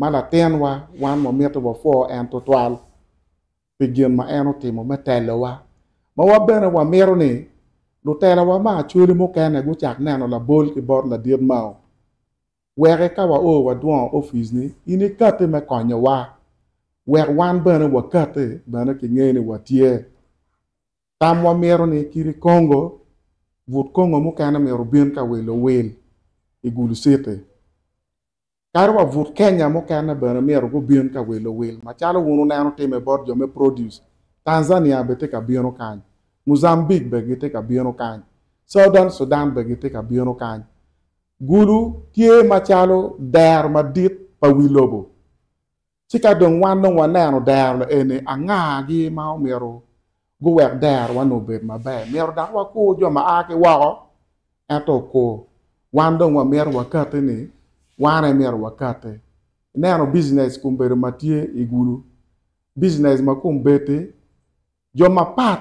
ma latinwa wan wamito wapwo en tutwal pi gin ma en otimo me telowa. Ma wan bene wamito ni lutelawa ma acholi mukene gucak neno labol ki bot ladit Mao. Weke ka wao wadwongo opic-ni, in ikati me konyowa wek wan bene wakati bene kinge ni watye. Tam wamito ni kit i Congo, but Congo mukene myero obin ka wilo owil i Gulu City. Kadi wa but Kenya mukene bene myero gubin ka wilo owil macalo wun wuneno timme bot jo me Produce. Tanzania bene tye ka bino kany. Mozambique bene gitye ka bino kany. Southern Sudan bene gitye ka bino kany. Gulu tye macalo dero madit pa wi lobo. Ci ka dong wan dong waneno dero laeni, angagi ma omyero guwek derowa-ni obed maber? Myero dok wakur jo ma a ki woko? Ento okur. Wan dong wamyero wakatti ni wan aye myero wakatti. Ineno bijinec kumbedo ma tye i gudo, bijinec ma kombeddi, jo mapat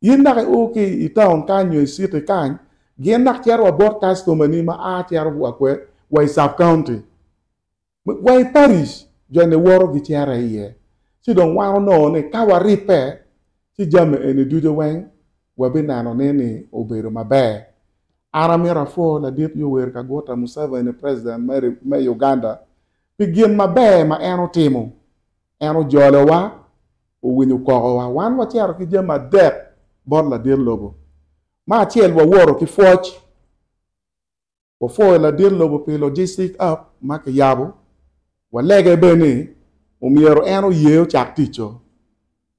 In dok i o ki i taun kany nyo i citi kany, gin dok cito wa bot kastomani ma a cito wa kwed wa i sub county, wa i parish jo ni woto gi cito i ye. Ci dong wan onongo ni ka wa ribbe ci jami eni ducu weng wa bi neno ni ni obedo maber. An amito a pwo ladit Yoweri Kaguta Museveni president me Uganda pi gin maber ma en otimo. En ojolowa, owinyo kokowa, wan wacito ki jami adek bot ladit lobo. Me acel, wawoto ki pwoc. Wapwoyo ladit lobo pi logistic app ma kiyabo. Walege bene ni omyero en oye ocak ticco,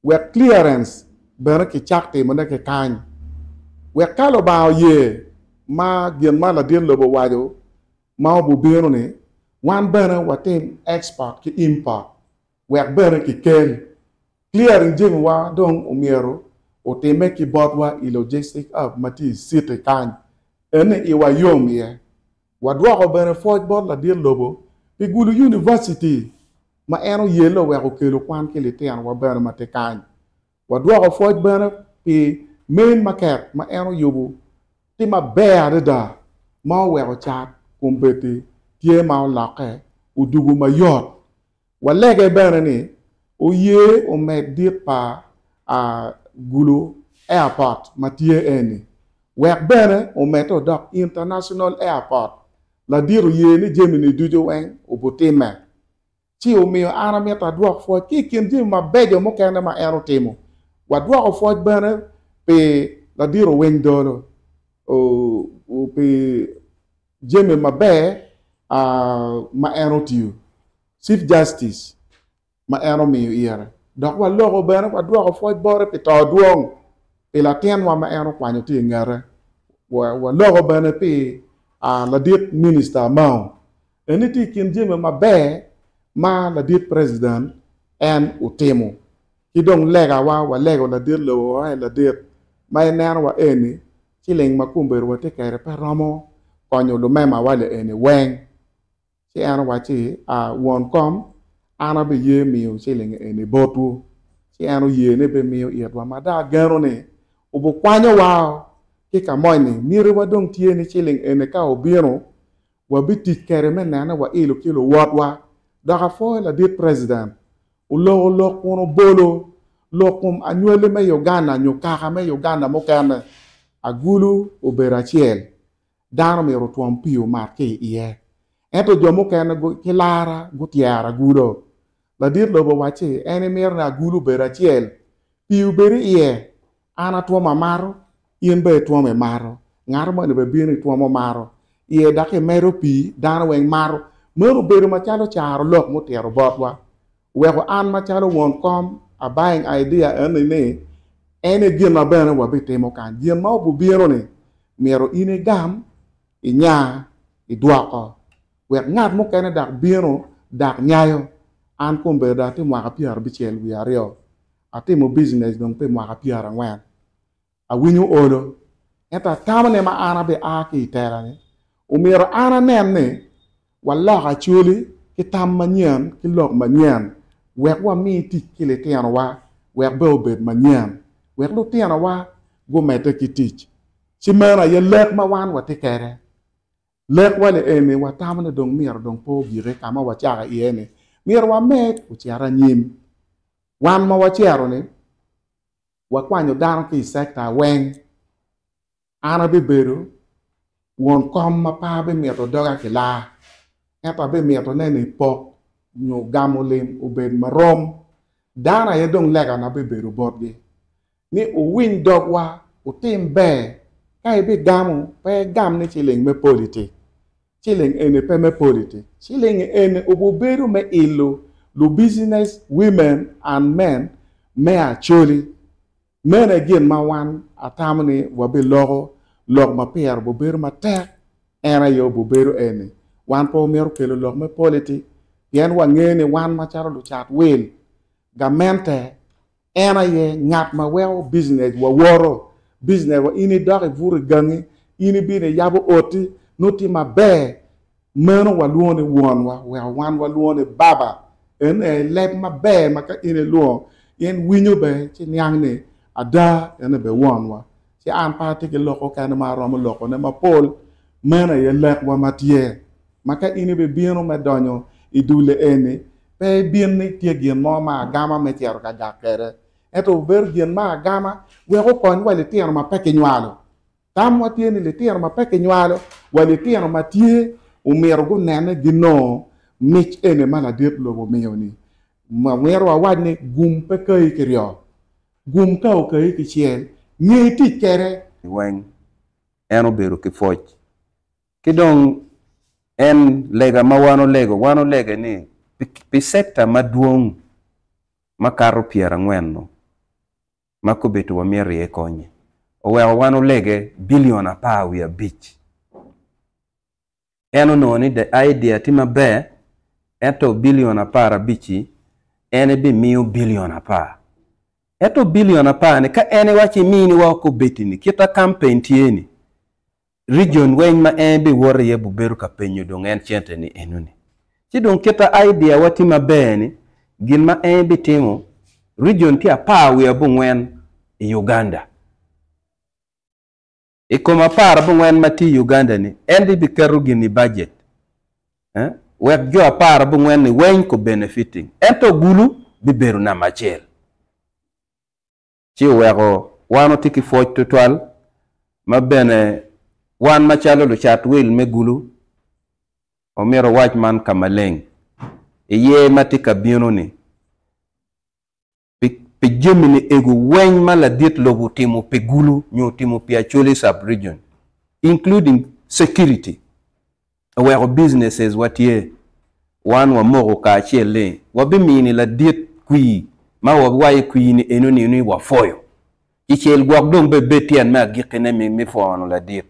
wek clearance bene kicak timone ki kany. Wek ka Lubanga oye ma gin ma ladit lobo owaco ma obubino ni wan bene watim export ki import wek bene kikel. Clearing jemiwa dong omyero otime ki botwa i logistic hub ma tye i city kany. Eni iwa yom iye. Wadwoko bene pwoc bot ladit lobo pi gulu University ma en oyelle wek okelu kwan ki litinowa bene ma tye kany. Wadwoko pwoc bene pi men maket ma en oyubu tye maber adada ma oweko cat kombeddi tye ma olokke odugu mayot. Walege bene ni oye omed dit pa a Gulu Airport ma tye eni, wek bene omedde odok International Airport ladit oye ni jami ni ducu weng obutimme. Ci omiyo an amito adwok pwoc ki i kin jami mabeco mukene ma en otimo. Wadwoko pwoc bene pi ladiro winy Dolo pi jami maber ma en otiyo, Chief Justice, ma en omiyo ire. Dok waloko bene wadwoko pwoc bote pi to dwong pi latinwa ma en okwanyo tye i ngete. Waloko bene pi ladit Minista Amao. Eni tye i kin jami maber ma ladit president en otimo. Ki dong lega wa walego ladit lobo wa aye ladit ma en neno wa eni ciling ma kombedo watye kede pe romo konyo lumema wa le eni weng. Ci en owacci a won kom an abi ye miyo ciling eni botwu. Ci en oye ni bi miyo itwa ma da ageno ni obu kwanyo wa o ki kamoni myero wa dong tye ni ciling eni ka obino Wabitic kede me nene wailo ki luwotwa. Dok apwoyo ladit President. Oloko lok kun obolo lok kom anywali me Uganda nyo kaka me Uganda mukene. Agulu obedo acel. Dano myero otwom pii omat ki i iye. Ento jo mukene ki lara gutyero agulu. Ladit lobo owacci en emito ni agulu obed acel, pii obed i iye, An atwomo amaro, in bene itwomo imaro. Ngat moni bene bino itwomo omaro iye dok imedo pi dano weng maro. Meno obedo macalo caro lok mutito botwa. Weko an macalo won kom a buying idea eni ni en e gin ma bene wabitimo kany. Gin ma obubino ni myero in igam, inya, idwoko wek ngat mukene dak bino dak nyayo. An kombedda ati mwaka pyera bicel wiye aryo. Atimo bijinec dong pi mwaka pyerangwen. Awinyo olo, ento atamone ma an abi a ki i tela-ni. Omyero an anen ni waloko acwali ki tam manyen ki lok manyen wek wami tic ki litinowa wek be obed manyen, wek lutinowa gumedde ki tic. Ci meno aye lek ma wan watye kwede. Lekwa ni eni watamo ni dong myero dong pe ogike ka ma wacako iye-ni, myero wamed ocit anyim. Wan ma wacero-ni wakwanyo dano ki i sekta weng. An abibedo won kom ma pe abimito doga kilaa, ento abimito neno i pok nyo gamo lim obed marom. Dano aye dong lekana bibedo botgi. ni wuwiny dogwa, wutim ber, ka ibigamo, pe igam ni ciling me politik, ciling eni pe me politik, ciling eni obubedo me ilo lubicinec women and men me Acholi. Meno aye gin ma wan atamo ni wabiloko lok ma pire obubedo matek, en aye obubedo eni, wan pe wamito kelo lok me politik pien wangeyo ni wan macalo lucat wil, gamente, En aye ngat ma weko bicinecwa woto, bicinecwa. In idok ibuto i gangi, in ibino iyabo oti, nongo tye maber. Meno walwongo ni Wonwa, weko wan walwongo ni Baba. Eno aye leb maber ma ka in ilwongo, in winyo bene ci niang ni ada en aye bene Wonwa. Ci an pe atye ki lok mukene ma aromo lokone mapol. Meno aye lekwa ma tye. Ma ka in ibibino me donyo i dulle eni, pe ibin ni tye gin mo ma agama me cito ka gak kwede, ento wubedo gin ma agama wek wukony wa litino ma pe kinywalo. Tamwa tye ni litino ma pe kinywalo wa litino ma tye omyero gunene ginongo mic eni ma ladit lobo miyo-ni. Myero wawac ni, Gum pe kayi ki ryo. Gum ka okayi kicel, nge tic kwede. Weng. En obedo ki pwoc. Ki dong en lega ma wan olego, wan olege ni pi sekta madwong makato pyerangwen-nu ma kobitiwa myero iye konye, oweko wan olege bilion apar wiye abic. En onongo ni the idea tye maber, ento bilion apar abic-ci en ebimiyo bilion apar. Ento bilion apar-ni ka en iwaco iminiwa kobitini kita kampen tye-ni, Region weng ma en biwot iye bubedo ka penyo dong en cente ni eno ni. Ci dong kita idea wa tye maber ni gin ma en bitimo region ki apar wiye abongwen i Uganda. I kom apar abongwen ma tye i Uganda ni en dong biketo gin i budget wek jo apar abongwen ni weng ko benefiting. Ento gulu bibedo number acel. ci oweko wan watye ki pwoc tutwal ma bene wan macalo lucat wil me gulu omyero owac man ka maleng i yer ma tye ka bino-ni pi jami niego weng ma ladit lobo otimo pi gulu nyo otimo pi Acholi Sub-Region, including security. Aweko businesses wa tye, wan wamoko kacel ni wabimini ladit kwir ma wawaye kwir ni eno ni ni wapwoyo ki cel gwok dong be bed tyen me agiki ne mi mi pwono ladit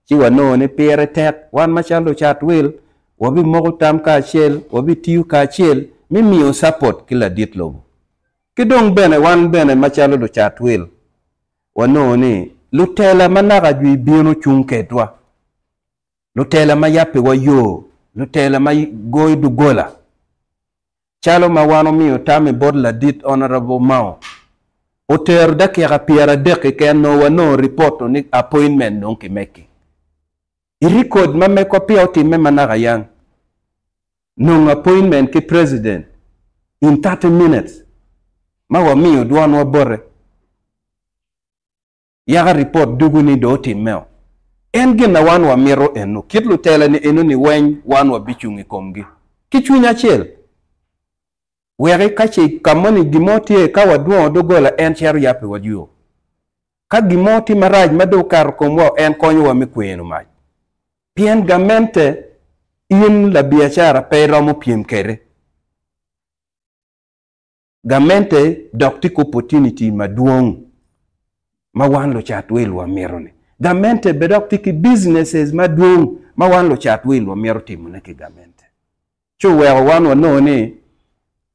ci wanongo ni pire tek wan macalo lucat wil wabimoko tam kacel wabitiyo kacel mi miyo support ki ladit lobo ki dong bene wan bene macalo lucat wil wanongo ni lutela manaka jwi bino cung kedwa. lutela ma yabbiwa yo, lutela ma goyo doggola, calo ma wan omiyo tam i bot ladit Honourable Mao, otero dakika pyeradek keken nongo wanongo ripoto ni appointment dong kimekki. I record ma mekwa peya otimme manaka yang, nongo appointment ki President in thirty minutes ma wamiyo dwonwa bote. yaka ripot dugu ni dong otimmeo. En gin na wan wamito eno, kit lutelani enoni weny wan wabicung i komgi ki cwiny acel. Weki ka ce ka moni gin mo tye ka wadwongo dogola en cito yabbiwa yo. Ka gin mo tye marac ma dong okato komwa en konyowa me kweno mac. Pien gamente in labiacara pe iromo pyem kede. gamente dok tye ki opportunity madwong ma wan lucat wil wamito ni. Gamente bene dok tye ki businesses madwong ma wan lucat wil wamito timo ne ki gamente. Ci oweko wan wanongo ni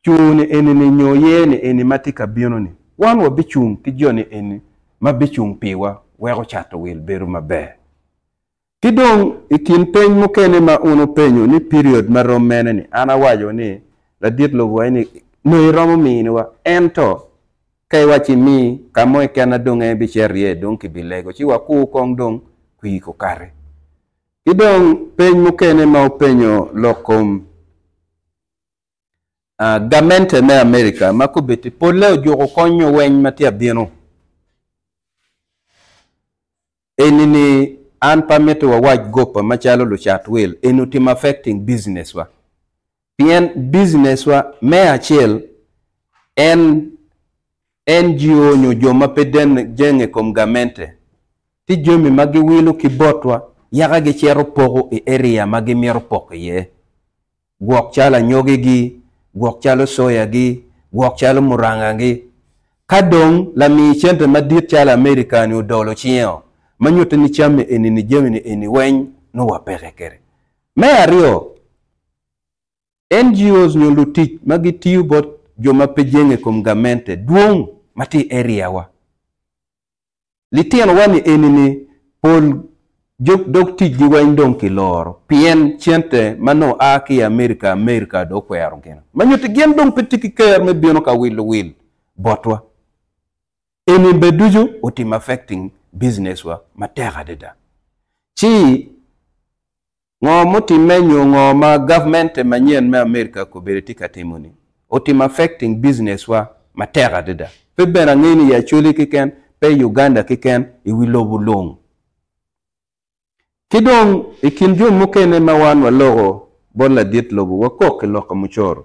cungo ni eni ni nyo ye ni eni ma tye ka bino ni, wan wabicung ki jo ni eni ma bicung piwa weko cato wil bedo maber. Ki dong i kin peny mukene ma un wupenyo ni period ma rom mene ni, an awaco ni, Ladit Lovoy ni, nongo iromo miniwa. Ento, ka iwaco imi ka mo keken na dong en bicito iye, dong kibilego ci wakur kong dong kwir okati. Ki dong peny mukene ma wupenyo lok kom Gamente me Amerika ma kobeddi polle ojuko kony nyo weny ma tye ka bino eni ni, An pe amito wawac goppa macalo lucat wil eni otimo affecting business wa pien business wa me acel en NGO nyo jo ma pe jenge i kom gamente tye jami ma giwilo ki botwa yaka gicito poko i area ma gimito poko iye. gwok calo anyogigi, gwok calo soyagi, gwok calo murangagi. Ka dong lami cente madit calo Amerika-ni odolo cinge-o, ma nyutte ni camme eni ni jamine eni weny nongo wapeke kwede. Me aryo, NGOs nyo lutic ma gitiyo bot jo ma pe jenge i kom gamente dwong ma tye i area-wa. Litinowa ni enini pol dog ticgi weng dong ki loro pien cente ma nongo a ki i America America dong okwero gin ma nyuti gin dong pe tye ki ker me bino ka wilo wil botwa. Eni be ducu otimo affecting business wa matek adada. Ci Ngo mutimme nyo ngo ma government manyen me America kobedo tye ka timo ni otimo affecting business wa matek adada. Pe bene angeyo ni i Acholi keken, pe i Uganda keken, i wi lobo lung. Ki dong i kin jo mukene ma wan waloko bot ladit lobo wakok ki lok ka mucoro.